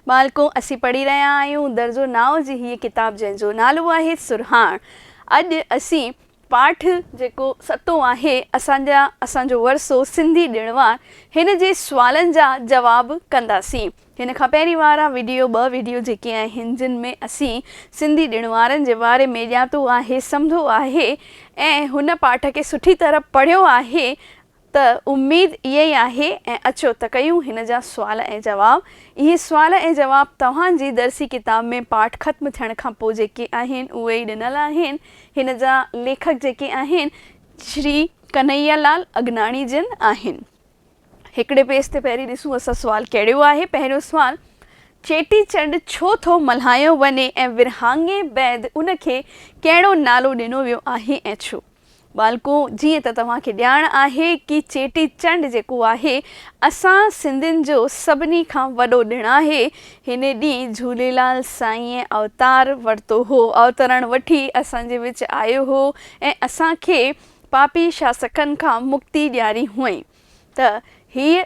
ٻالڪو، اسين پڙهي رهيا آهيون درزو ناو جي هيء ڪتاب جنهن جو نالو آهي سرهاڻ. اڄ اسين پاٺ جيڪو ستون آهي اسان جا اسان جو ورثو سنڌي ڏڻوار هن جي سوالن جا جواب ڪنداسين. هن کان پهرين وارا وڊيو ٻه وڊيو جيڪي آهن جن ۾ اسين سنڌي ڏڻوارن جي باري ۾ ڄاتو آهي سمڌو آهي ۽ هن پاٺ کي سٺي طرح پڙهيو آهي ۽ ته اميد اها ئي آهي ۽ اچو ته ڪيون هن جا سوال ۽ جواب. اهي سوال ۽ جواب توهان جي درسي ڪتاب ۾ پاٺ ختم ٿيڻ کان پوء جيڪي آهن اهي ئي ڏنل آهن. هن جا ليکڪ جيڪي آهن شري ڪنهيا لال اگناڻي جن آهن. هڪڙي پيج تي پهرين ڏسون اسان سوال ڪهڙو آهي. پهريون سوال، چيٽي چنڊ ڇو ٿو ملهايو وڃي ۽ ورهاڱي بعد ان کي ڪهڙو نالو ڏنو ويو آهي ۽ ڇو؟ ٻالڪو، جيئن ته توهان کي ڄاڻ آهي ڪي چيٽي چنڊ جيڪو آهي اسان سنڌين جو سڀني کان وڏو ڏڻ آهي. هن ڏينهن جهوليلال سائينء اوتار ورتو هو. اوترڻ وٺي اسان جي وچ آيو هو ۽ اسان کي پاپي شاسڪن کان مڪتي ڏياري هئائين ته هيء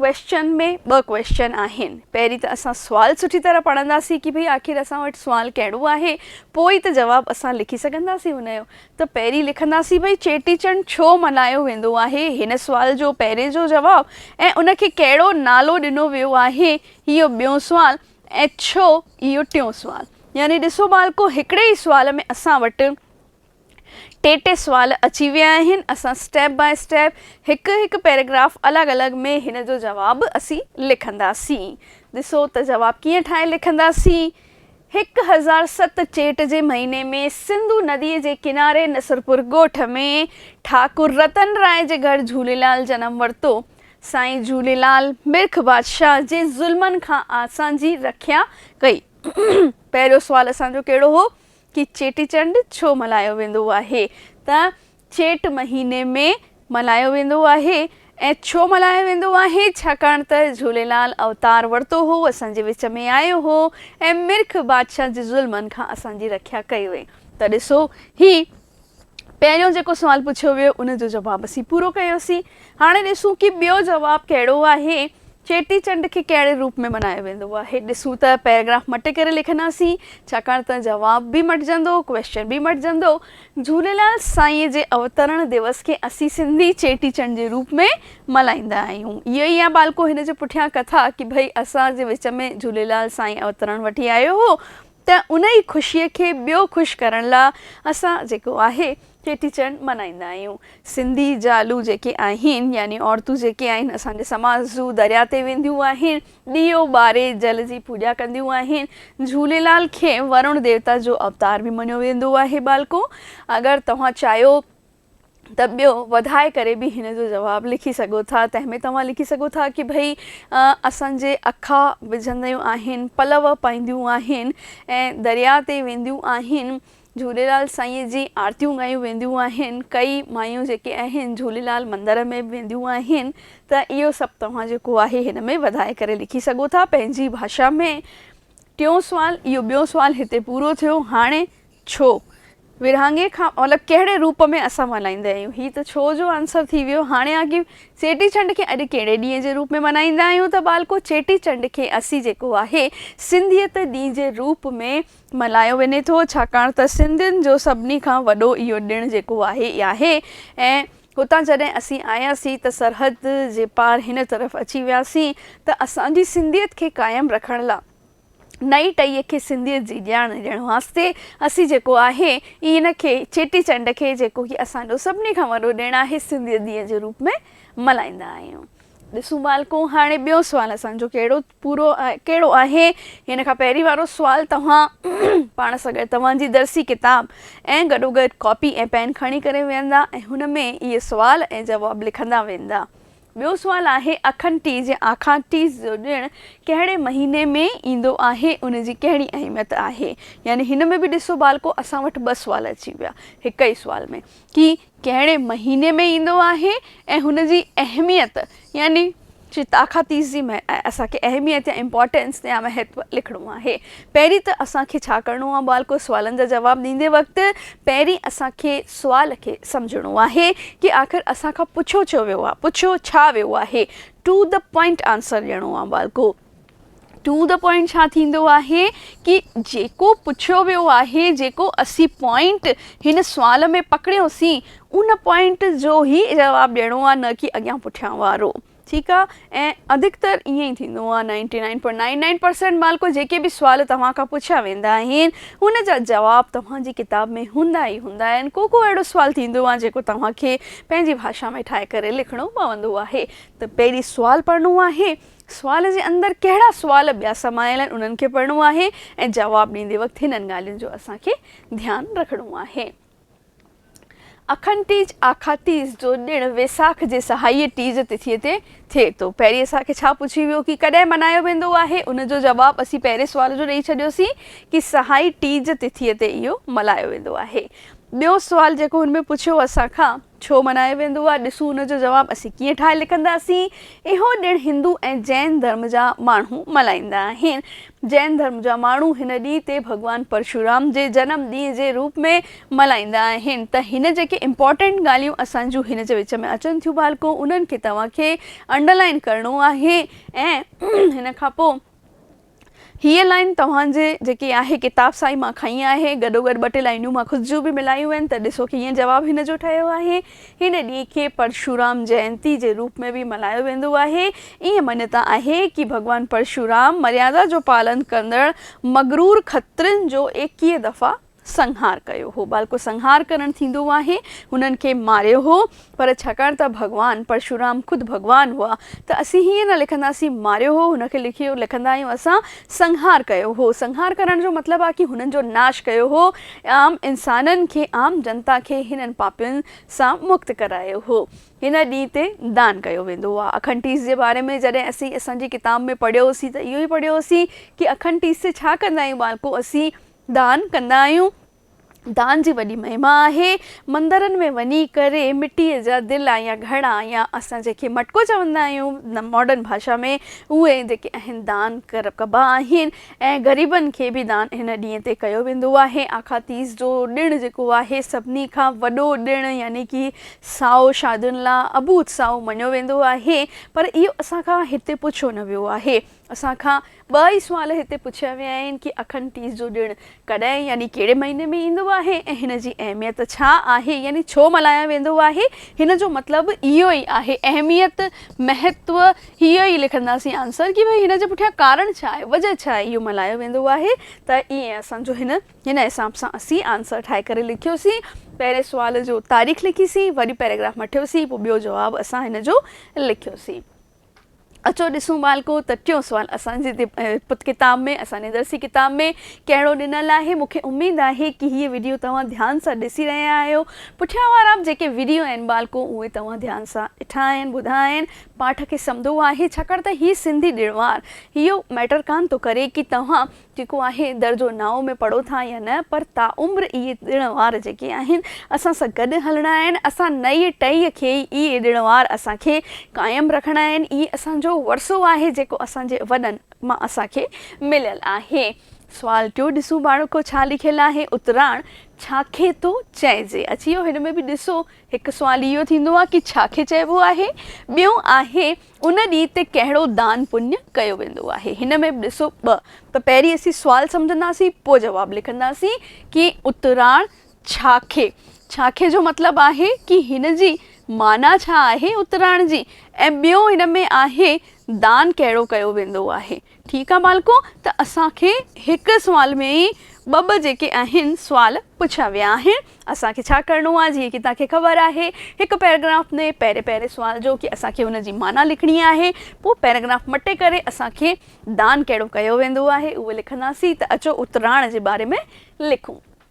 ڪويسچن ۾ ٻه ڪويسچن آهن. پهرين ته اسان سوال سٺي طرح پڙهنداسين ڪي ڀئي آخر اسان وٽ سوال ڪهڙو آهي پوء ئي ته جواب اسان لکي سگهنداسين ان جو ته پهرين لکنداسين ڀئي چيٽي چنڊ ڇو ملهايو ويندو آهي هن سوال جو پهرين جو جواب ۽ ان کي ڪهڙو نالو ڏنو ويو آهي اهو ٻيون سوال ۽ ڇو اهو ٽيون سوال يعني ڏسو ٻالڪو هڪڙي ئي سوال ۾ اسان وٽ ٽي ٽي سوال اچي ويا آهن اسان اسٽيپ باء اسٽيپ هڪ هڪ پيراگراف الڳ الڳ ۾ هن جو جواب اسين لکنداسين ڏسو ته جواب ڪيئن ٺاهي لکنداسين هڪ هزار ست چيٽ جي مهيني ۾ سنڌو ندي جي ڪناري نصرپور ڳوٺ ۾ ٺاڪر رتن راء جي گهر جهوليلال جنم ورتو سائين جهوليلال مرک بادشاهه جي ظلمن کان اسان جي رکيا ڪئي پهريون سوال اسان جو ڪهڙو هو کي چيٽي چنڊ ڇو ملهايو ويندو آهي ته چيٽ مهيني ۾ ملهايو ويندو آهي ۽ ڇو ملهايو ويندو آهي ڇاڪاڻ ته جهوليلال اوتار ورتو هو اسان جي وچ ۾ آيو هو ۽ مرک بادشاهه جي ظلمن کان اسان جي رکيا ڪئي هئي ته ڏسو هي پهريون جيڪو سوال پڇيو ويو ان جو جواب اسين پورو ڪيوسين. هاڻي ڏسون ڪي ٻيو جواب ڪهڙو آهي. چيٽي چنڊ کي ڪهڙي روپ ۾ ملهايو ويندو آهي. ڏسون ته پيراگراف مٽي ڪري لکنداسين ڇاڪاڻ ته جواب به مٽجندو ڪويشچن به مٽجندو. جهوليلال سائينء جي اوترڻ ديوس کي اسين سنڌي چيٽي چنڊ جي روپ ۾ ملهائيندا آهيون. اهو ئي آ ٻالڪو هن جي پٺيان ڪٿا ڪي ڀئي اسان جي وچ ۾ جهوليلال سائين اوترڻ وٺي آيو هو ته ان ئي خوشيء کي ٻيو خوش ڪرڻ لا اسان جيڪو آهي چيٽي چنڊ ملهائيندا آهيون. سنڌي زالون جيڪي آهن يعني عورتون جيڪي آهن اسان جي سماج جون دريا تي وينديون آهن ڏيئو ٻاري جل جي پوڄا ڪنديون آهن جهوليلال کي ورڻ ديوتا جو اوتار به مڃيو ويندو آهي ٻالڪو اگر توهان چاهيو ته ٻيو وڌائي ڪري به هن جو جواب لکي سگهو ٿا تنهن ۾ توهان لکي سگهو ٿا ڪي ڀئي اسان جي اکا وجهنديون آهن پلو پائينديون آهن ۽ دريا تي وينديون آهن جهوليلال سائين جي آرتيون ڳايون وينديون آهن ڪئي مايون جيڪي آهن جهوليلال مندر ۾ به وينديون آهن ته اهو سڀ توهان جيڪو آهي هن ۾ وڌائي ڪري لکي سگهو ٿا پنهنجي ڀاشا ۾ ٽيون سوال اهو ٻيو سوال هتي پورو ٿيو هاڻي ڇو؟ ورهاڱي کان اولهه ڪهڙي روپ ۾ اسان ملهائيندا آهيون؟ هي ته ڇو جو آنسر ٿي ويو. هاڻي آ ڪي چيٽي چنڊ کي اڄ ڪهڙي ڏينهن جي روپ ۾ ملهائيندا آهيون ته ٻالڪو چيٽي چنڊ کي اسي جيڪو آهي سنڌيت ڏينهن جي روپ ۾ ملهايو وڃي ٿو ڇاڪاڻ ته سنڌين جو سڀني کان وڏو اهو ڏڻ جيڪو آهي اي آهي ۽ هتان جڏهن اسين آياسين ته سرحد جي پار هن طرف اچي وياسين ته اسان جي سنڌيت کي قائم رکڻ لا نئين ٽهيء کي سنڌيت جي ڄاڻ ڏيڻ واسطي اسين جيڪو آهي اي ان کي چيٽي چنڊ کي جيڪو هي اسان جو سڀني کان وڏو ڏڻ آهي سنڌيت ڏينهن جي روپ ۾ ملهائيندا آهيون. ڏسون ٻالڪو هاڻي ٻيو سوال اسان جو ڪهڙو پورو ڪهڙو آهي ان کان پهرين وارو سوال توهان پاڻ سان گڏ توهان جي درسي ڪتاب ۽ گڏوگڏ ڪاپي ۽ پين کڻي ڪري ويهندا ۽ هن ۾ اهي سوال ۽ جواب لکندا ويندا. ٻيو سوال آهي اکن ٽيز يا آکان ٽيز جو ڏڻ ڪهڙي مهيني ۾ ايندو آهي ان جي ڪهڙي اهميت آهي يعني هن ۾ به ڏسو ٻالڪو اسان وٽ ٻه سوال اچي ويا هڪ ئي سوال ۾ ڪي ڪهڙي مهيني ۾ ايندو آهي ۽ هن جي اهميت يعني آکان تيز جي اسان کي اهميت يا امپورٽينس يا مهتو لکڻو آهي پهرين ته اسان کي ڇا ڪرڻو آهي ٻالڪو سوالن جا جواب ڏيندي وقت پهرين اسان کي سوال کي سمجهڻو آهي ڪي آخر اسان کان پڇيو ڇو ويو آهي پڇيو ڇا ويو آهي ٽو دي پوائنٽ آنسر ڏيڻو آهي ٻالڪو ٽو دي پوائنٽ ڇا ٿيندو آهي ڪي جيڪو پڇيو ويو آهي جيڪو اسين پوائنٽ هن سوال ۾ پڪڙيو سين ان پوائنٽ جو هي جواب ڏيڻو آهي نه ڪي اڳيان پٺيان وارو. ٺيڪ آ ۽ اڌڪتر ائين ئي ٿيندو آ ninety nine point nine nine percent مالڪو جيڪي به سوال توهان کان پڇيا ويندا آهن ان جا جواب توهان جي ڪتاب ۾ هوندا ئي هوندا آهن ڪو ڪو اهڙو سوال ٿيندو آ جيڪو توهان کي پنهنجي ڀاشا ۾ ٺاهي ڪري لکڻو پوندو آهي ته پهرين سوال پڙهڻو آهي سوال جي اندر ڪهڙا سوال ٻيا سمايل آهن انهن کي پڙهڻو آهي ۽ جواب ڏيندي وقت هنن ڳالهين جو اسان کي ڌيان رکڻو آهي. اکن ٽيج، آکا تيز، جو ڏڻ ويساک جي سهائيء ٽيج تٿيء تي ٿئي ٿو. پهرين اسان کي ڇا پڇي ويو ڪي ڪڏهن ملهايو ويندو آهي؟ ان جو جواب اسين پهرين سوال جو ڏئي ڇڏيوسين ڪي سهائي ٽيج تٿيء تي اهو ملهايو ويندو آهي. ٻيو سوال جيڪو هن ۾ پڇيو اسان کان. ڇو ملهايو ويندو آهي؟ ڏسون ان جو جواب اسين ڪيئن ٺاهي لکنداسين. اهو ڏڻ هندو ۽ جين ڌرم جا ماڻهو ملهائيندا آهن. جين ڌرم جا ماڻهو هن ڏينهن تي ڀڳوان پرشورام جي جنم ڏينهن جي روپ ۾ ملهائيندا آهن ته هن جيڪي امپارٽنٽ ڳالهيون اسان جون هن جي وچ ۾ اچن ٿيون ڀالڪو انهن کي توهان کي انڊرلائن ڪرڻو آهي ۽ ان کان پوء هيء لائين توهان جي جيڪي آهي ڪتاب سان ئي مان کنئي آهي. گڏوگڏ ٻه ٽي لائينون مان خود جون به ملايون آهن ته ڏسو ڪيئن جواب هن جو ٺهيو آهي. هن ڏينهن کي پرشورام جينتي جي روپ ۾ به ملهايو ويندو آهي. ائين مڃتا آهي ڪي ڀڳوان پرشورام مريادا جو پالن ڪندڙ مغرور کترين جو ايڪيهه دفعا، سنهار ڪيو هو. بالڪو سنهار ڪرڻ ٿيندو آهي. هنن کي ماريو هو. پر ڇاڪاڻ ته ڀڳوان پرشورام خود ڀڳوان هئا ته اسين هيئن نه لکنداسين ماريو هو هن کي لکيو لکندا آهيون اسان سنهار ڪيو هو. سنهار ڪرڻ جو مطلب آهي ڪي هنن جو ناش ڪيو هو عام انسانن کي عام جنتا کي هنن پاپين سان مڪت ڪرايو هو. هن ڏينهن تي دان ڪيو ويندو آهي. اکنٽيس جي باري ۾ جڏهن اسين اسان جي ڪتاب ۾ پڙهيوسين ته اهو ئي پڙهيوسين ڪي اکنٽيس ڇا ڪندا آهيون ٻالڪو اسين دان ڪندا آهيون دان جي وڏي مهما آهي مندرن ۾ وڃي ڪري مٽي جا دلا يا گهڙا يا اسان جنهن کي مٽڪو چوندا آهيون ماڊرن ڀاشا ۾ اهي جيڪي اهن دان ڪبا آهن ۽ غريبن کي به دان هن ڏينهن تي ڪيو ويندو آهي آکا تيز جو ڏڻ جيڪو آهي سڀني کان وڏو ڏڻ يعني ڪي سائو شادين لا ابوت سائو مڃيو ويندو آهي پر اهو اسان کان هتي پڇيو نه ويو آهي اسان کان ٻه ئي سوال هتي پڇيا ويا آهن ڪي اکن تيز جو ڏڻ ڪڏهن يعني ڪهڙي مهيني ۾ ايندو آهي ۽ هن جي اهميت ڇا آهي يعني ڇو ملهايا ويندو آهي هن جو مطلب اهو ئي آهي اهميت مهتو هي ئي لکنداسين آنسر ڪي ڀئي هن جي پٺيان ڪارڻ ڇا آهي وجه ڇا آهي اهو ملهايو ويندو آهي ته ائين اسان جو هن هن حساب سان اسين آنسر ٺاهي ڪري لکيوسين پهرين سوال جو تاريخ لکيسين وري پيراگراف مٺيوسين پوء ٻيو جواب اسان هن جو لکيوسين. اچو ڏسون ٻالڪو ته ٽيون سوال اسان جي پت ڪتاب ۾ اسان جي درسي ڪتاب ۾ ڪهڙو ڏنل آهي مون کي اميد آهي ڪي هيء وڊيو توهان ڌيان سان ڏسي رهيا آهيو پٺيان وارا جيڪي وڊيو آهن ٻالڪو اهي توهان ڌيان سان ڏٺا آهن ٻڌا آهن پاٺ کي سمدو آهي ڇاڪاڻ ته هي سنڌي ڏڻ وار هيو ميٽر ڪان ٿو ڪري ڪي توهان جيڪو آهي درجو نائون ۾ پڙهو ٿا يا نه پر تاعمر اهي ڏڻ وار جيڪي آهن اسان سان گڏ هلڻا آهن اسان نئي ٽهي کي ئي اهي ڏڻ وار اسان کي قائم رکڻا آهن اهي اسان جو ورثو آهي جيڪو اسان جي وڏن مان اسان کي مليل آهي سوال ٽيون ڏسون ٻاڙوڪو ڇا لکيل آهي اتراڻ ڇا کي ٿو چئجي اچي ويو هن ۾ به ڏسو هڪ سوال اهو ٿيندو آهي ڪي ڇا کي چئبو آهي ٻيون آهي ان ڏينهن تي ڪهڙو دان پڃ ڪيو ويندو آهي؟ هن ۾ به ڏسو ٻه پ پهرين اسين سوال سمجهنداسين پوء جواب لکنداسين ڪي اتراڻ ڇاکي ڇاکي جو مطلب آهي ڪي هن جي معنيٰ ڇا آهي اتراڻ جي ۽ ٻيو هن ۾ آهي دان ڪهڙو ڪيو ويندو آهي؟ ٺيڪ آ ٻالڪو ته اسان کي هڪ سوال ۾ ئي ٻه ٻه جيڪي آهن سوال پڇيا ويا آهن اسان کي ڇا ڪرڻو آ جيئن ڪي توهان کي خبر آهي هڪ پيراگراف ۾ پهرين پهرين سوال جو ڪي اسان کي ان جي معنيٰ لکڻي آهي پوء پيراگراف مٽي ڪري اسان کي دان ڪهڙو ڪيو ويندو آهي اهو لکنداسين ته اچو اتراڻ جي باري ۾ لکون.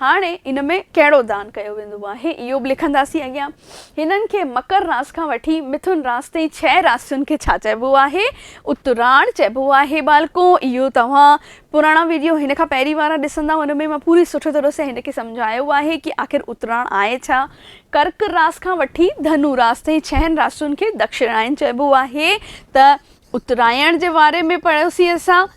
هاڻي ان ۾ ڪهڙو دان ڪيو ويندو آهي، اهو به لکنداسين اڳيان. هنن کي مڪر راس کان وٺي مٿن راس تائين ڇهه راسين کي ڇا چئبو آهي؟ اتراڻ چئبو آهي ٻالڪو. اهو توهان پراڻا وڊيو هن کان پهرين وارا ڏسندا ان ۾ مان پوري سٺي طرح سان هن کي سمجهايو آهي ڪي آخر اتراڻ آهي ڇا؟ ڪرڪ راس کان وٺي ڌنو راس تائين ڇهن راسين کي دڪشڻائن چئبو آهي ته اترايڻ جي واري ۾ پڙهيوسين اسان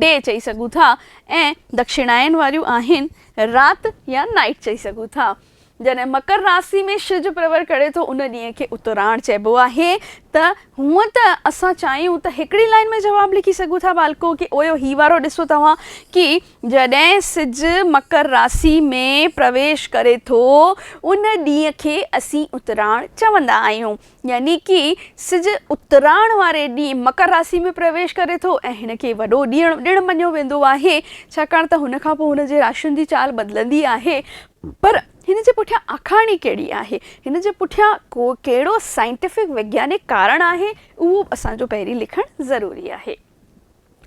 ڊي چئي سگهون ٿا ۽ دکشڻائن واريون آهن رات يا Night چئي سگهون ٿا. جڏهن مڪر راسي ۾ شج پرور ڪري ٿو ان ڏينهن کي اتراڻ چئبو آهي ته هونئن ته اسان چاهيون ته هڪڙي لائين ۾ جواب لکي سگهون ٿا ٻالڪو ڪي اويو هي وارو ڏسو توهان ڪي جڏهن سج مڪر راسي ۾ پرويش ڪري ٿو ان ڏينهن کي اسين اتراڻ چوندا آهيون. يعني ڪي سج اتراڻ واري ڏينهن مڪر راسي ۾ پرويش ڪري ٿو ۽ هن کي وڏو ڏڻ مڃيو ويندو آهي ڇاڪاڻ ته هن کان پوء هن جي راشين جي چال بدلندي آهي پر هن جي پٺيان آکاڻي ڪهڙي آهي هن جي پٺيان ڪهڙو سائنٽيفڪ وگيانڪ ڪارڻ آهي اهو به اسان جو پهرين لکڻ ضروري آهي.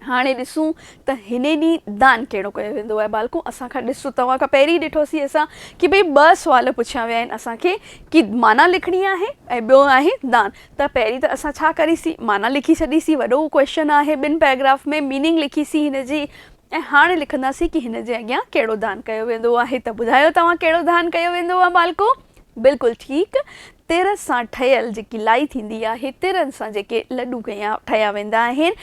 هاڻي ڏسون ته هن ڏينهن دان ڪهڙو ڪيو ويندو آهي ٻالڪو اسان کان ڏس توهان کان پهرين ڏٺوسين اسان ڪي ڀئي ٻه سوال پڇيا ويا آهن اسان کي ڪي معنيٰ لکڻي آهي ۽ ٻيو آهي دان ته پهرين ته اسان ڇا ڪريسين معنيٰ لکي ڇڏيسين وڏو ڪويشچن آهي ٻن پيراگراف ۾ ميننگ لکيسين هن جي ۽ هاڻي لکنداسين ڪي هن جي اڳيان ڪهڙو دان ڪيو ويندو آهي ته ٻڌايو توهان ڪهڙو دان ڪيو ويندو آهي ٻالڪو بلڪل ٺيڪ، تر سان ٺهيل جيڪي لائي ٿيندي آهي، ترن سان جيڪي لڏو ٺهيا ويندا آهن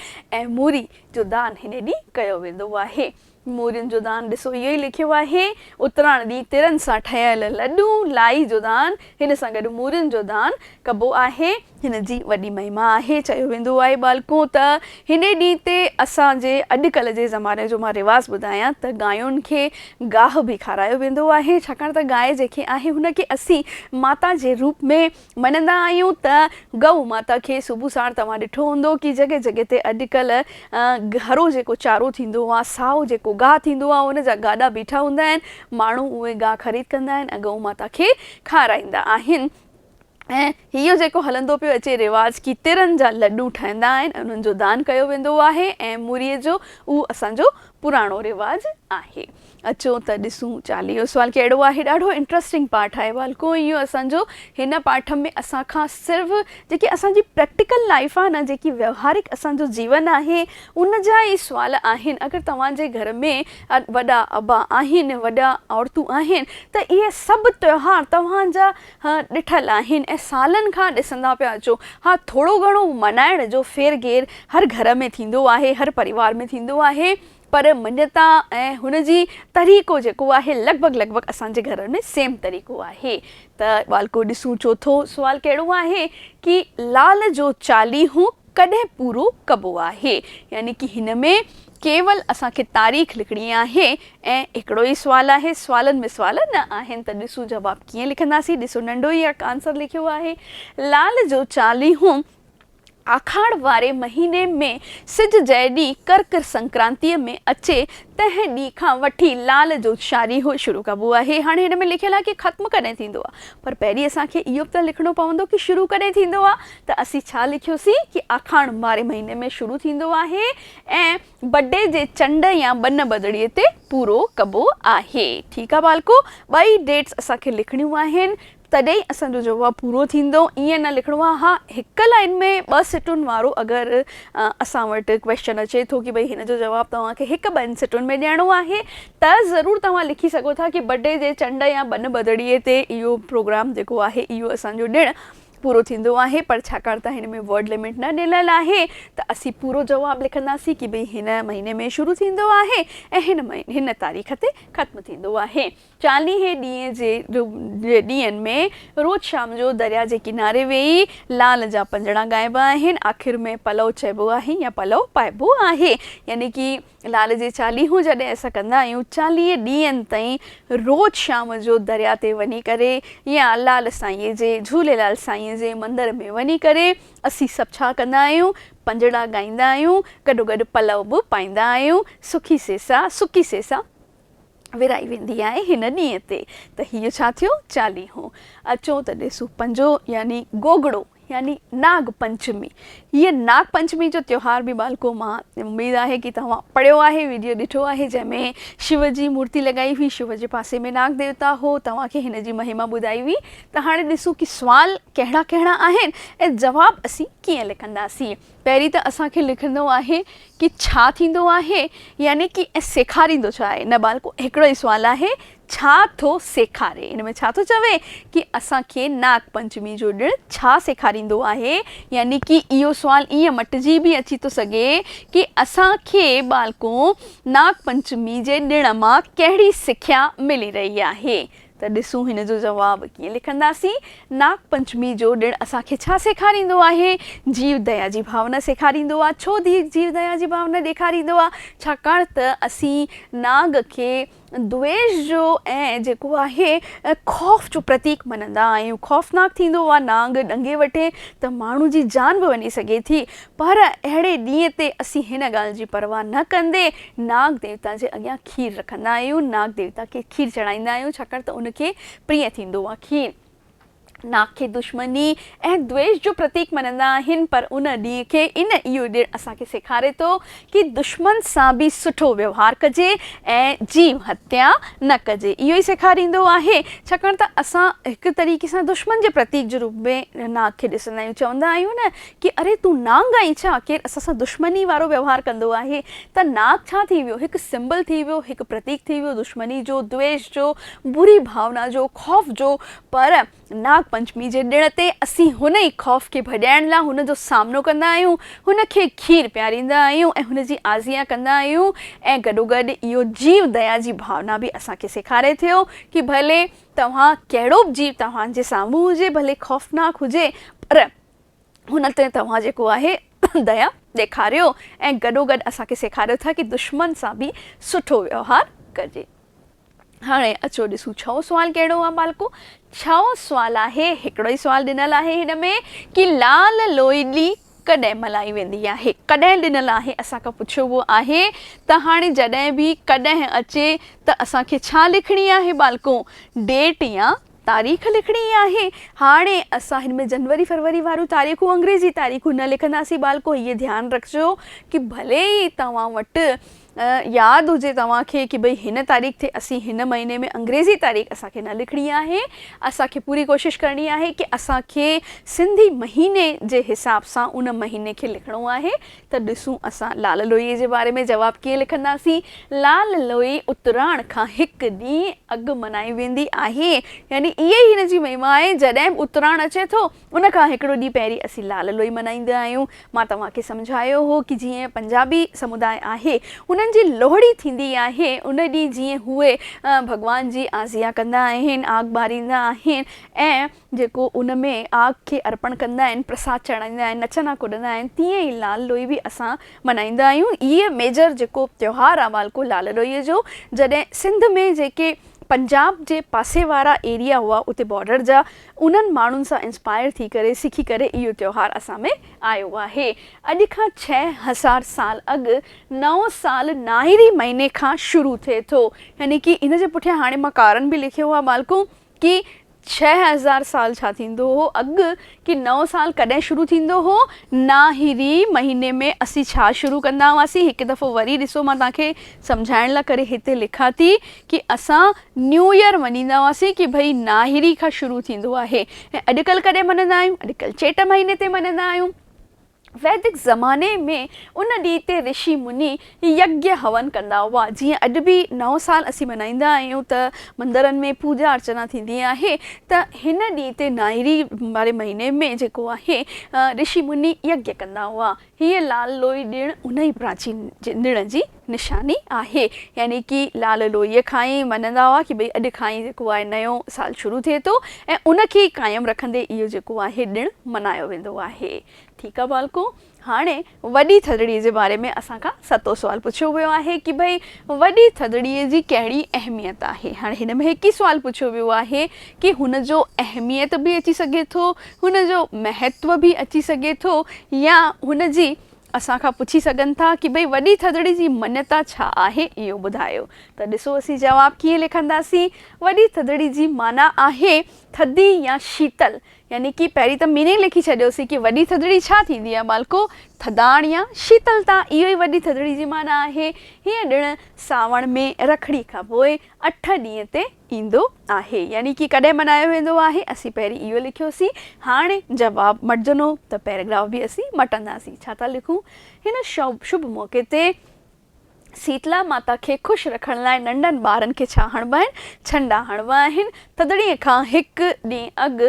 ۽ موري جو دان هن ڏينهن ڪيو ويندو آهي. مورين جو دان ڏسو اهو ئي لکيو آهي. اتراڻ ڏينهن ترن سان ٺهيل لڏو، لائي جو دان، هن سان گڏ مورين جو دان ڪبو آهي. هن جي وڏي مهما آهي. چيو ويندو آهي ٻالڪو ته هني ڏينهن تي اسان جي اڄڪلهه جي زماني جو مان رواز ٻڌايان ته گاين کي گاهه به کارايو ويندو آهي ڇاڪاڻ ته گاء جيڪي آهي هن کي اسين ماتا جي روپ ۾ مڃندا آهيون ته گئو ماتا کي صبح ساڻ توهان ڏٺو هوندو ڪي جڳهه جڳهه تي اڄڪلهه گهرو جيڪو چارو ٿيندو آهي سائو جيڪو گاهه ٿيندو آهي ان جا گاڏا بيٺا هوندا آهن ماڻهو اهي گاهه خريد ڪندا آهن ۽ گئو ماتا کي کارائيندا آهن ۽ اهو جيڪو هلندو پيو اچي رواج ڪي ترن جا لڏو ٺهندا آهن ۽ انهن جو دان ڪيو ويندو آهي ۽ مري جو اهو اسان جو پراڻو رواج آهي اچو ته ڏسون چاليهو سوال ڪهڙو آهي ڏاڍو انٽرسٽنگ پارٽ آهي والڪو اهو اسان جو هن پارٽ ۾ اسان کان صرف جيڪي اسان جي پريڪٽيڪل لائيف آهي نه جيڪي ويوهارڪ اسان جو جيون آهي ان جا ئي سوال آهن اگر توهان جي گهر ۾ وڏا ابا آهن وڏا عورتون آهن ته اهي سڀ تيوهار توهان جا ها ڏٺل آهن ۽ سالن کان ڏسندا پيا اچو. ها ٿورو گهڻو مڃائڻ جو ڦير گهير هر گهر ۾ ٿيندو آهي، هر پريوار ۾ ٿيندو آهي پر مڃتا ۽ هن جي طريقو جيڪو آهي لڳ ڀڳ لڳ ڀڳ اسان جي گهرن ۾ سيم طريقو آهي ته ٻالڪو ڏسون چوٿون سوال ڪهڙو آهي ڪي لال جو چاليهون ڪڏهن پورو ڪبو آهي يعني ڪي هن ۾ ڪيول اسان کي تاريخ لکڻي آهي ۽ هڪڙو ئي سوال آهي سوالن ۾ سوال نه آهن ته ڏسون جواب ڪيئن لکنداسين ڏسو ننڍو ئي اک آنسر لکيو آهي لال جو چاليهون آکاڙ واري مهيني ۾ سج جنهن ڏينهن ڪرڪ سنڪرانتي ۾ اچي تنهن ڏينهن کان وٺي لال جو چاليهو شروع ڪبو آهي هاڻي هن ۾ لکيل آهي ڪي ختم ڪڏهن ٿيندو آهي پر پهرين اسان کي اهو به ته لکڻو پوندو ڪي شروع ڪڏهن ٿيندو آهي ته اسين ڇا لکيوسين ڪي آکاڻ ماري مهيني ۾ شروع ٿيندو آهي ۽ بڊي جي چنڊ يا ٻن ٻڌڙي تي پورو ڪبو آهي. ٺيڪ آ ٻالڪو ٻئي ڊيٽس اسان کي لکڻيون آهن تڏهن اسان جو جواب پورو ٿيندو ائين نه لکڻو آ ها هڪ لائين ۾ ٻه سٽون وارو اگر اسان وٽ ڪويشچن اچي ٿو ڪي ڀئي هن جو جواب توهان کي هڪ ٻن سٽون ۾ ڏيڻو آهي ته ضرور توهان لکي سگهو ٿا ڪي بڊي جي چنڊ يا ٻن ٻڌڙي تي اهو پروگرام جيڪو آهي اهو اسان جو ڏڻ پورو ٿيندو آهي پر ڇاڪاڻ ته هن ۾ ورڊ لمٽ نه ڏنل آهي ته اسين پورو جواب لکنداسين ڪي ڀئي هن مهيني ۾ شروع ٿيندو آهي ۽ هن هن تاريخ تي ختم ٿيندو آهي چاليهي ڏينهن جي ڏينهن ۾ روز شام جو دريا جي ڪناري ويهي لال جا پنجڻا ڳائبا آهن آخر ۾ پلئو چئبو آهي يا پلئو پائبو آهي يعني ڪي لال جي چاليهون جڏهن اسان ڪندا آهيون چاليهه ڏينهن تائين روز شام جو دريا تي وڃي ڪري يا لال سائينء جي جهوليلال سائينء جي مندر ۾ وڃي ڪري اسين سڀ ڇا ڪندا آهيون پنجڙا ڳائيندا آهيون گڏوگڏ پلئو به پائيندا آهيون سکي سيسا سڪي سيسا ورهائي ويندي آهي هن ڏينهن تي ته هيء ڇا ٿيو چاليهو. اچو ته ڏسون پنجو يعني گوگڙو يعني ناگ پنچمي. هيء ناگ پنچمي جو تيوهار به ٻالڪو مان اميد آهي ڪي توهان پڙهيو آهي ويڊيو ڏٺو آهي جنهن ۾ شو جي مورتي لڳائي هئي شو جي پاسي ۾ ناگ ديوتا هو توهان کي هن جي مهما ٻڌائي هئي ته هاڻي ڏسون ڪي سوال ڪهڙا ڪهڙا آهن ۽ جواب اسين ڪيئن لکنداسين. پهرين ته اسان کي لکندو آهي ڪي ڇا ٿيندو آهي يعني ڪي ۽ سيکاريندو ڇا آهي نه ٻالڪو هڪڙو ئي سوال آهي ڇا ٿو سيکاري ان ۾ ڇا ٿو چوي ڪي اسان کي ناگ پنچمي جو ڏڻ ڇا سيکاريندو آهي يعني ڪي اهو سوال ايئن مٽجي به اچي ٿو سگهي ڪي اسان کي ٻالڪو ناگ پنچمي جي ڏڻ مان ڪهڙي سکيا ملي رهي آهي ته ڏسون هن جو جواب ڪيئن لکنداسين. ناگ پنچمي جو ڏڻ اسان کي ڇا سيکاريندو آهي؟ جيو ديا جي ڀاونا سيکاريندو آ. ڇو جيو ديا جي ڀاونا ڏيکاريندو آ؟ ڇاڪاڻ ته اسين ناگ کي دويش جو ۽ جيڪو آهي خوف جو پرتيڪ مڃندا آهيون. خوفناڪ ٿيندو آ ناگ، ڏنگي وٺي ته ماڻهو جي جان به وڃي سگهي ٿي. پر اهڙي ڏينهن تي اسين هن ڳالهه جي پرواهه نه ڪندي ناگ ديوتا جي اڳيان کير رکندا آهيون. ناگ ديوتا کي کير چڙهائيندا آهيون ڇاڪاڻ ته ان کي پرينء ٿيندو آهي. کير ناگ کي دشمني ۽ دويش جو پرتيڪ مڃندا آهن پر ان ڏينهن کي ان اهو ڏڻ اسان کي سيکاري ٿو ڪي دشمن سان به سٺو ويوهار ڪجي ۽ جيو هتيا نه ڪجي اهو ئي سيکاريندو آهي ڇاڪاڻ ته اسان هڪ طريقي سان دشمن جي پرتيڪ جي روپ ۾ ناگ کي ڏسندا آهيون چوندا آهيون نه ڪي اري تون نانگ آهين ڇا؟ ڪير اسان سان دشمني وارو ويوهار ڪندو آهي ته ناگ ڇا ٿي ويو؟ هڪ سمبل ٿي ويو، هڪ پرتيڪ ٿي ويو دشمني جو، دويش جو، بري ڀاونا جو، خوف جو پر ناگ پنچمي جي ڏڻ تي اسين هن ئي خوف کي ڀڄائڻ لا هن جو سامنو ڪندا آهيون، هن کي کير پياريندا آهيون ۽ هن جي آزيان ڪندا آهيون ۽ گڏوگڏ اهو جيو ديا جي ڀاونا به اسان کي سيکاري ٿيو ڪي ڀلي توهان ڪهڙو به جيو توهان جي سامهون هجي ڀلي خوفناڪ هجي پر هن تي توهان جيڪو آهي ديا ڏيکاريو ۽ گڏوگڏ اسان کي سيکاريو ٿا ڪي دشمن سان به سٺو ويوهار ڪجي. هاڻي اچو ڏسون ڇهون سوال ڪهڙو آهي ٻالڪو؟ ڇهون سوال آهي، هڪڙو ئي سوال ڏنل آهي هن ۾ ڪي لال لوئلي ڪڏهن ملهائي ويندي آهي؟ ڪڏهن ڏنل آهي اسان کان پڇيو ويو آهي ته هاڻي جڏهن به ڪڏهن اچي ته اسان کي ڇا لکڻي آهي ٻالڪو؟ ڊيٽ يا تاريخ لکڻي ئي آهي. هاڻي اسان هن ۾ جنوري فروري واريون تاريخون انگريزي تاريخون نه لکنداسين ٻالڪو هيء ڌيان رکجو ڪي ڀلي ئي توهان وٽ ياد هجي توهان کي ڪي ڀئي هن تاريخ تي اسين هن مهيني ۾ انگريزي تاريخ اسان کي نه لکڻي آهي اسان کي پوري ڪوشش ڪرڻي آهي ڪي اسان کي سنڌي مهيني جي حساب سان ان مهيني کي لکڻو آهي ته ڏسون اسان لعل لوئيء جي باري ۾ جواب ڪيئن لکنداسين. لعل لوئي اتراڻ کان هڪ ڏينهن اڳ ملهائي ويندي آهي. يعني اها ئي هن جي مهما آهي. جڏهن به اتراڻ اچي ٿو، ان کان هڪڙو ڏينهن پهرين اسين لعل لوئي ملهائيندا آهيون. مان توهان کي سمجهايو هو ته جيئن پنجابي سموداء آهي، انهن جي لوهڙي ٿيندي آهي. ان ڏينهن جيئن هوء ڀڳوان جي آزيان ڪندا آهن، آگ ٻاريندا آهن ۽ جيڪو ان ۾ آگ کي ارپڻ ڪندا آهن، پرساد چڙهائيندا آهن، نچندا ڪڏندا آهن، تيئن ئي لال لوئي به اسان ملهائيندا آهيون. هيء ميجر جيڪو تهوار آهي والڪو لال لوئي جو، جڏهن سنڌ ۾ جيڪي پنجاب جي پاسي وارا ايريا هئا اتي بارڊر جا، انهن ماڻهن سان انسپائر ٿي ڪري، سکي ڪري اهو تهوار اسان ۾ آيو آهي. اڄ کان ڇهه هزار سال اڳ نئون سال ناهري مهيني کان شروع ٿئي ٿو. يعني ڪي ان جي پٺيان هاڻي مان ڪارڻ به لکيو آهي والڪو ڪي ڇهه هزار سال ڇا ٿيندو هو اڳ ڪي نئون سال ڪڏهن شروع ٿيندو هو ناهري مهيني ۾ اسين ڇا شروع ڪندا هئاسين هڪ دفعو وري ڏسو مان توهان کي سمجهائڻ لا ڪري هتي لکان ٿي ڪي اسان نيو يئر مڃيندا هئاسين ڪي ڀئي ناهري کان شروع ٿيندو آهي ۽ اڄڪلهه ڪڏهن مڃندا آهيون اڄڪلهه چيٽ مهيني تي مڃندا آهيون. ويدڪ زماني ۾ ان ڏينهن تي رشي مني يگيا، هون، ڪندا هئا. جيئن اڄ به نئون سال اسين ملهائيندا آهيون ته مندرن ۾ پوڄا ارچنا ٿيندي آهي ته هن ڏينهن تي نائري واري مهيني ۾ جيڪو آهي رشي مني يگيا ڪندا هئا. هيء لال لوئي ڏڻ انهي پراچين ڏڻ جي نشاني آهي يعني ڪي لال لوئيء کان ئي مڃندا هئا ڪي ڀئي اڄ کان ئي جيڪو آهي نيون سال شروع ٿئي ٿو ۽ ان کي قائم رکندي اهو جيڪو آهي ڏڻ منايو ويندو آهي ٺيڪ آ ٻالڪو هاڻي وڏي ٿڌڙي جي باري ۾ اسان کان ستو سوال پڇيو ويو آهي ڪي ڀئي وڏي ٿڌڙي جي ڪهڙي اهميت آهي هاڻي هن ۾ هڪ ئي سوال پڇيو ويو آهي ڪي هن جو اهميت به اچي سگهي ٿو هن جو مهتو به اچي سگهي ٿو يا هن جي اسان کان پڇي سگهن ٿا ڪي ڀئي وڏي ٿڌڙي جي مڃتا ڇا آهي اهو ٻڌايو ته ڏسو اسين جواب ڪيئن لکنداسين وڏي ٿڌڙي جي معنيٰ آهي ٿڌي يا شيتل يعني ڪي پهرين ته ميننگ لکي ڇڏيوسين ڪي وڏي ٿڌڙي ڇا ٿيندي آهي ٻالڪو ٿڌاڻ يا شيتلتا اهو ئي وڏي ٿڌڙي جي معنيٰ آهي هيء ڏڻ ساوڻ ۾ رکڙي کان پوء اٺ ڏينهن تي ايندو آهي يعني ڪي ڪڏهن مڃايو ويندو آهي اسين پهرين اهو لکيوسين هاڻي جواب مٽجنو ته پيراگراف به اسين مٽنداسين ڇا ٿا لکون هن شڀ موقعي تي سيتلا ماتا کي خوش رکڻ لاء ننڍن ٻارن کي ڇا هڻبا آهن ڇنڊا هڻبا آهن ٿڌڙي کان هڪ ڏينهن اڳ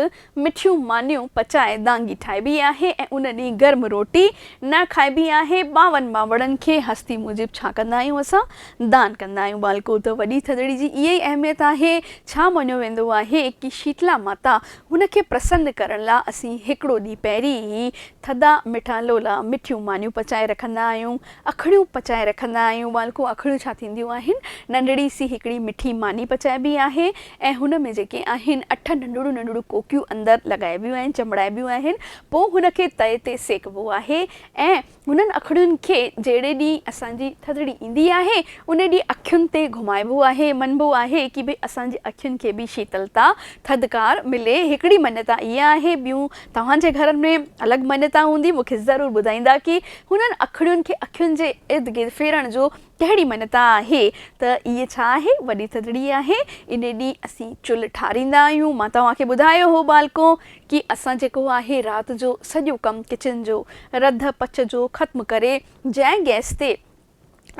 مٺيون مانيون پچائي دانگي ٺاهبي آهي ۽ ان ڏينهن گرم روٽي نه کائبي آهي. ٻانهن ٻانهوڙن کي هستي موجب ڇا ڪندا آهيون اسان؟ دان ڪندا آهيون. ٻالڪو ته وڏي ٿڌڙي جي اها ئي اهميت آهي. ڇا مڃيو ويندو آهي ڪي شيتلا ماتا هن کي پرسن ڪرڻ لا اسين هڪڙو ڏينهن پهرين ئي ٿڌا مٺا لولا، مٺيون مانيون پچائي رکندا آهيون. اکڙيون پچائي رکندا آهيون. ٻالڪون اکڙيون ڇا ٿينديون آهن؟ ننڍڙي سي هڪڙي مٺي ماني پچائبي آهي ۽ هن ۾ جيڪي آهن اٺ ننڍڙيون ننڍڙيون ڪوڪيون اندر لڳائبيون ۽ چنبڙائبيون آهن پوء هن کي تئي تي سيڪبو آهي ۽ هنن اکڙين کي جهڙي ڏينهن اسان جي ٿڌڙي ايندي آهي انهي ڏينهن اکين تي گهمائبو آهي مڃبو آهي ڪي ڀئي اسان جي اکين کي به شيتلتا، ٿڌڪار، ملي هڪڙي مڃتا اها آهي ٻيون توهان جي گهرن ۾ الڳ مڃتا هوندي مون کي ضرور ٻڌائيندا ڪي هنن اکڙين کي اکين جي ارد گرد ڦيرڻ جو ڪهڙي مڃتا آهي ته اي ڇا آهي وڏي ٿڌڙي آهي انهي ڏينهن اسين چلهه ٺاريندا آهيون مان توهان کي ٻڌايو هو ٻالڪو ڪي اسان جيڪو آهي رات جو سڄو ڪم ڪچن جو رڌ پچ جو ختم ڪري جنهن گئس تي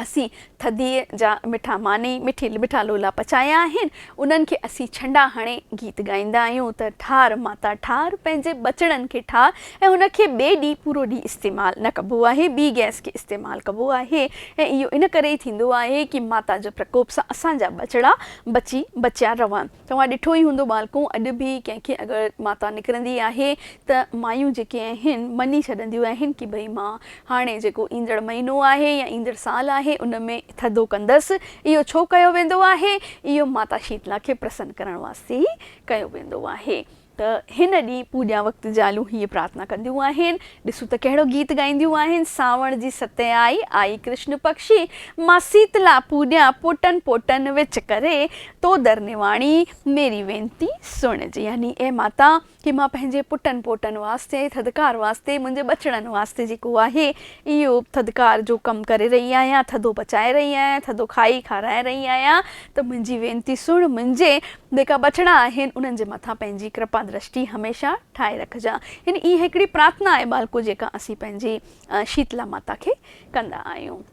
اسين ٿڌيء جا مٺا ماني، مٺي مٺا لولا پچايا آهن، انهن کي اسين ڇنڊا هڻي گيت ڳائيندا آهيون ته ٺار ماتا ٺار، پنهنجي ٻچڙن کي ٺار ۽ ان کي ٻئي ڏينهن پورو ڏينهن استعمال نه ڪبو آهي، ٻي گئس کي استعمال ڪبو آهي ۽ اهو ان ڪري ئي ٿيندو آهي ڪي ماتا جي پرڪوپ سان اسان جا ٻچڙا بچي بچيا رهن. توهان ڏٺو ئي هوندو ٻالڪو، اڄ به ڪنهن کي اگر ماتا نڪرندي آهي ته مايون جيڪي آهن مڃي ڇڏنديون آهن ڪي ڀئي مان هاڻي جيڪو ايندڙ مهينو آهي يا ايندڙ سال آهي ان ۾ ٿڌو ڪندس، اهو ڇو ڪيو ويندو آهي؟ اهو ماتا شيتلا کي پرسن ڪرڻ واسطي ئي ڪيو ويندو آهي. ته هن ڏينهن پوڄا وقت زالون هيء پرارٿنا ڪنديون آهن، ڏسون ته ڪهڙو گيت ڳائينديون آهن، سانوڻ جي ستين آئي، آئي ڪرشن پڪشي، مان سيتلا پوڄيان پوٽن پوٽن وچ ڪري، تو در نواڻي، ميري وينتي سڻج. يعني اي ماتا! ڪي مان پنهنجي پٽن پوٽن واسطي، ٿڌڪار واسطي، منهنجي ٻچڙن واسطي جيڪو آهي، اهو ٿڌڪار جو ڪم ڪري رهي آهيان، ٿڌو پچائي رهي آهيان، ٿڌو کائي کارائي رهي آهيان، ته منهنجي وينتي سڻ، منهنجي جيڪا ٻچڙا آهن انهن جي مٿان پنهنجي ڪرپا درشٽي هميشه ٺاهي رکجان يعني اها هڪڙي پرارٿنا آهي ٻالڪو جيڪا اسين پنهنجي شيتلا ماتا کي ڪندا آهيون.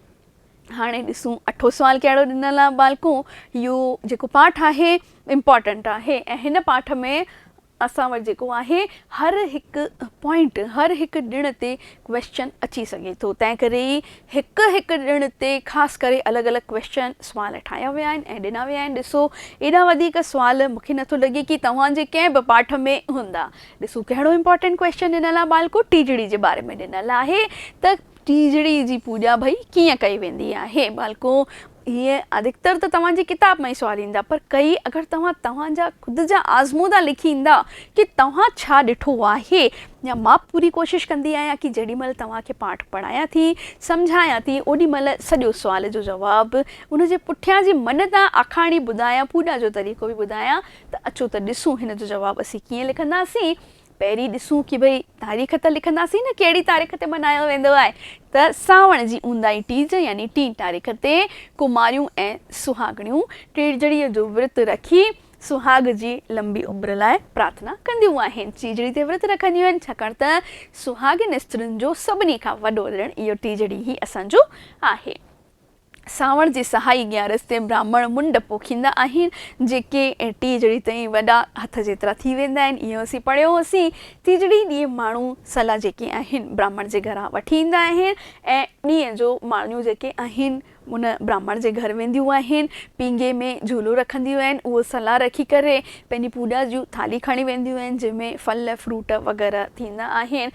هاڻي ڏسون اٺون سوال ڪهڙو ڏنل آهي ٻالڪو يو جيڪو پاٺ آهي امپارٽنٽ آهي ۽ هن پاٺ ۾ اسان وٽ جيڪو آهي هر هڪ پوائنٽ هر هڪ ڏڻ تي ڪويسچن اچي سگهي ٿو تنهن ڪري ئي هڪ هڪ ڏڻ تي خاص ڪري الڳ الڳ ڪويسچن سوال ٺاهيا ويا آهن ۽ ڏنا ويا آهن ڏسو ايڏا وڌيڪ سوال مون کي نٿو لڳي ڪي توهان جي ڪنهن به پاٺ ۾ هوندا ڏسو ڪهڙو امپارٽنٽ ڪويسچن ڏنل آهي ٻالڪو ٽيجڙي جي باري ۾ ڏنل آهي ته ٽيجڙي جي پوڄا ڀئي ڪيئن ڪئي ويندي آهي؟ ٻالڪو، هيء ادڪتر ته توهان جي ڪتاب مان ئي سوال ايندا، پر ڪئي اگر توهان توهان جا خود جا آزمودا لکي ايندا ڪي توهان ڇا ڏٺو آهي يا مان پوري ڪوشش ڪندي آهيان ڪي جيڏي مهل توهان کي پاٺ پڙهايان ٿي، سمجهايان ٿي اوڏي مهل سڄو سوال جو جواب، ان جي پٺيان جي منت ۽ آکاڻي ٻڌايان پوڄا جو طريقو به ٻڌايان ته اچو ته ڏسون هن جو جواب اسين ڪيئن لکنداسين؟ پهرين ڏسون ڪي ڀئي تاريخ ته لکنداسين نه ڪهڙي تاريخ تي ملهايو ويندو آهي ته سانوڻ جي اونداهي ٽيج يعني ٽين تاريخ تي ڪماريون ۽ سهاڳڻيون ٽيجڙي جو ورت رکي سهاڳ جي لنبي عمر لاء پرارٿنا ڪنديون آهن ٽيجڙي تي ورت رکنديون آهن ڇاڪاڻ ته سهاڳين استرين جو سڀني کان وڏو ڏڻ اهو ٽيجڙي ئي اسان جو آهي. سانوڻ جي سهائي اڳيان رستي براهمڻ منڊ پوکيندا آهن، جيڪي ٽيجڙي تائين وڏا هٿ جيترا ٿي ويندا آهن. اهو اسين پڙهيو هوسين. ٽيجڙي ڏينهن ماڻهو سلا جيڪي آهن، براهمڻ جي گهران وٺي ايندا آهن ۽ ڏينهن جو ماڻهيون جيڪي آهن، ان براهمڻ جي گهر وينديون آهن. پينگهي ۾ جهولو رکنديون آهن. اهو سلا رکي ڪري پنهنجي پوڄا جون ٿالهيون کڻي وينديون آهن، جنهن ۾ ڦل فروٽ وغيره ٿيندا آهن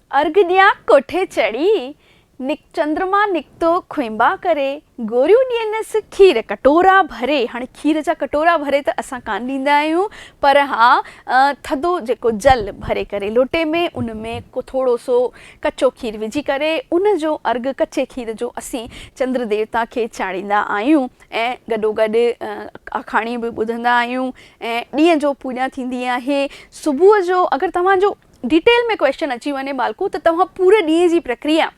ارگهه ڏيان ڪوٺي چڙهي، نڪ چندرما نڪتو کونبا ڪري، گوريون ڏينس کير ڪٽورا ڀري، هاڻي کير جا ڪٽورا ڀري ته اسان ڪانه ڏيندا آهيون، پر ها ٿڌو جيڪو جل ڀري ڪري لوٽي ۾ ان ۾ ڪو ٿورو سو ڪچو کير وجهي ڪري ان جو ارگهه ڪچي کير جو اسين چندر ديوتا کي چاڙهيندا آهيون ۽ گڏوگڏ آکاڻيون به ٻڌندا آهيون ۽ ڏينهن جو پوڄا ٿيندي آهي صبح جو اگر توهان جو ڊيٽيل ۾ ڪويسچن اچي وڃي ٻالڪو ته توهان پوري ڏينهن جي پرڪريا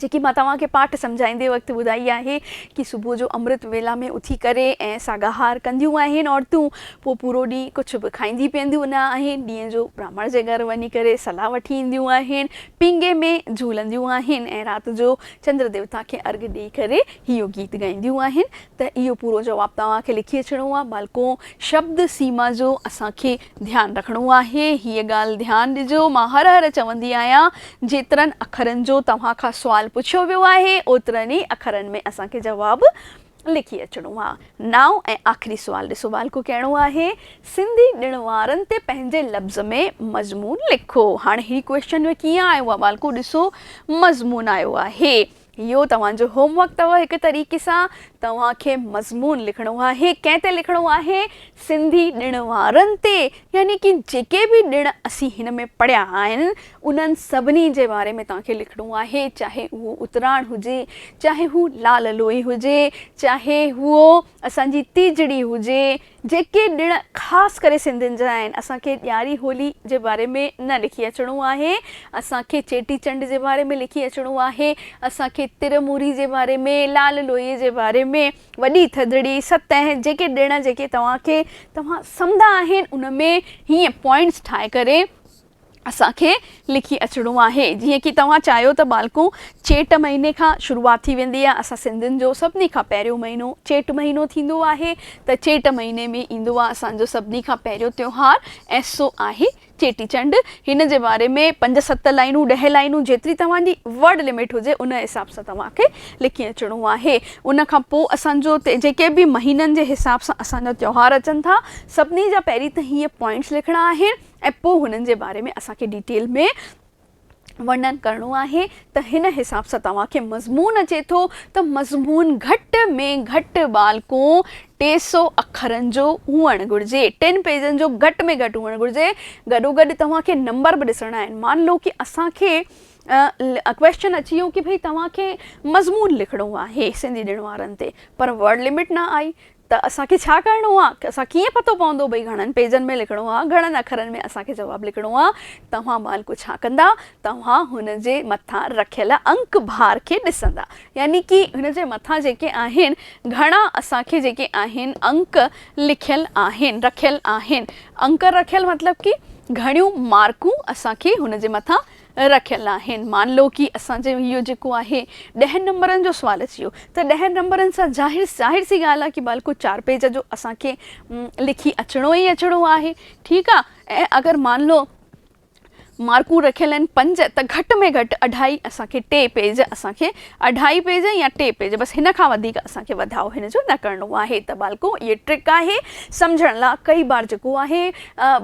جيڪي مان توهان کي پاٺ سمجهائيندي وقت ٻڌائي آهي ڪي صبح جو امرت ويلا ۾ اٿي ڪري ۽ ساڳاهار ڪنديون آهن عورتون پوء پورو ڏينهن ڪجهه به کائيندي پيئنديون نه آهن ڏينهن جو براهمڻ جي گهر وڃي ڪري صلاح وٺي اينديون آهن پينگهي ۾ جهولنديون آهن ۽ رات جو چندر ديوتا کي ارگهه ڏئي ڪري اهو گيت ڳائينديون آهن ته اهو پورو جواب توهان کي لکي اچڻو آهي ٻالڪو شبد سيما جو اسان کي ڌيان رکڻو آهي، هيء ڳالهه ڌيان ڏجو، مان هر هر چوندي آهيان، جيترن اکرن جو توهان کان سوال پڇيو ويو آهي، اوترن ئي اکرن ۾ اسان کي جواب لکي اچڻو آهي. نائون ۽ آخري سوال ڏسو والڪو ڪهڙو آهي، سنڌي ڏڻ وارن تي پنهنجي لفظ ۾ مضمون لکو. هاڻي هي ڪويشچن ڪيئن آيو آهي والڪو ڏسو مضمون آيو آهي. اهو توهان جو هوم ورڪ اٿو هڪ طريقي سان توهان کي مضمون لکڻو آهي ڪنهن تي لکڻو آهي سنڌي ڏڻ وارن تي يعني ڪي جيڪي به ڏڻ اسين هن ۾ پڙهيا آهن انهن سڀني جي باري ۾ توهان کي لکڻو آهي چاهي اهو اتراڻ هجي چاهي هو لال لوئي هجي چاهي هو اسان جي تيجڙي هجي جيڪي ڏڻ خاص ڪري سنڌين جا آهن، اسان کي ڏياري هولي جي باري ۾ نه لکي اچڻو آهي، اسان کي چيٽي چنڊ جي باري ۾ لکي اچڻو آهي، اسان کي تر موري جي باري ۾، لال لوئي جي باري ۾، وڏي ٿڌڙي، ستهه، جيڪي ڏڻ جيڪي توهان کي توهان سمندا آهن ان ۾ هيئن پوائنٽس ٺاهي ڪري، اسان کي لکي اچڻو آهي جيئن ڪي توهان چاهيو ته ٻالڪون چيٽ مهيني کان شروعات ٿي ويندي آهي اسان سنڌين جو سڀني کان پهريون مهينو چيٽ مهينو ٿيندو آهي ته چيٽ مهيني ۾ ايندو آهي اسان جو سڀني کان پهريون تيوهار ۽ سو آهي چيٽي چنڊ هن جي باري ۾ پنج ست لائنون ڏهه لائنون جيتري توهان جي ورڊ لمٽ هجي ان حساب سان توهان کي لکي اچڻو آهي ان کان پو اسان جو جيڪي به مهينن جي حساب سان اسان جا تيوهار اچن ٿا سڀني جا پهرين ته هيئن پوائنٽس لکڻا آهن ۽ پوء هنن جي باري ۾ اسان کي ڊيٽيل ۾ ورنن ڪرڻو آهي ته هن حساب سان توهان کي مضمون اچي ٿو ته مضمون گهٽ ۾ گهٽ ٻالڪون ٽي سئو اکرن جو هئڻ گهرجي، ٽن پيجن جو گهٽ ۾ گهٽ هئڻ گهرجي، گڏوگڏ توهان کي نمبر به ڏسڻا آهن، مان لو ڪي اسان کي ڪويشچن اچي ويو ڪي ڀئي توهان کي مضمون لکڻو آهي سنڌي ڏڻ وارن تي پر ورڊ لمٽ نه آئي ته اسان کي ڇا ڪرڻو آ؟ اسان کي ڪيئن پتو پوندو ڀئي گهڻن پيجن ۾ لکڻو آ، گهڻن اکرن ۾ اسان کي جواب لکڻو آ؟ توهان مالڪو ڇا ڪندا؟ توهان هن جي مٿان رکيل انڪ بار کي ڏسندا. يعني ڪي هن جي مٿان جيڪي آهن، گهڻا اسان کي جيڪي آهن انڪ لکيل آهن، رکيل آهن. انڪ رکيل مطلب ڪي گهڻيون مارڪون اسان کي هن جي مٿان رکيل آهن مان لو ڪي اسان جي اهو جيڪو آهي ڏهن نمبرن جو سوال اچي ويو ته ڏهن نمبرن سان ظاهر ظاهر سي ڳالهه آهي ڪي بالڪل چار پيج جو اسان کي لکي اچڻو ئي اچڻو آهي ٺيڪ آ ۽ اگر مان لو مارڪون رکيل آهن پنج ته گهٽ ۾ گهٽ اڍائي اسان کي ٽي پيج اسان کي اڍائي پيج يا ٽي پيج بس هن کان وڌيڪ اسان کي وڌاء هن جو نه ڪرڻو آهي ته ٻالڪو اهي ٽرڪ آهي سمجهڻ لا ڪئي بار جيڪو آهي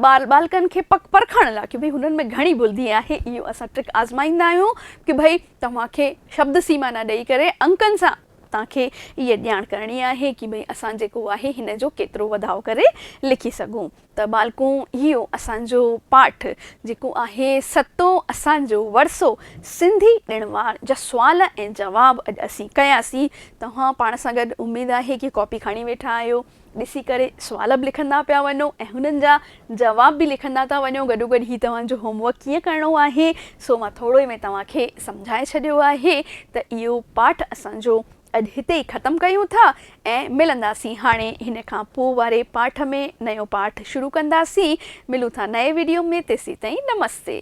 ٻال ٻالڪن کي پڪ پرکڻ لا ڪي ڀئي هنن ۾ گهڻي بلدي آهي اهو اسان ٽرڪ آزمائيندا آهيون ڪي ڀئي توهان کي شبد سيما نه ڏئي ڪري انڪن سان تان کي اهي ڄاڻ ڪرڻي آهي ڪي ڀئي اسان جيڪو آهي هن جو ڪيترو وڌاء ڪري لکي سگهون ته ٻالڪون اهو اسان جو پاٺ جيڪو آهي ستو اسان جو ورثو سنڌي ڏڻ وار جا سوال ۽ جواب اڄ اسين ڪياسين توهان پاڻ سان گڏ اميد آهي ڪي ڪاپي کڻي ويٺا آهيو ڏسي ڪري سوال به لکندا پيا وڃو ۽ هنن جا جواب به لکندا ٿا وڃو گڏو گڏ هي توهان جو هوم ورڪ ڪيئن ڪرڻو آهي سو مان ٿورو ئي ۾ توهان کي سمجهائي ڇڏيو آهي ته اهو پاٺ اسان جو اڄ هتي ئي ختم ڪيون ٿا ۽ ملنداسين هاڻي هن کان پوء واري پاٺ ۾ نيو پاٺ شروع ڪنداسين ملون ٿا نئين ويڊيو ۾ تيسين تائين نمستي.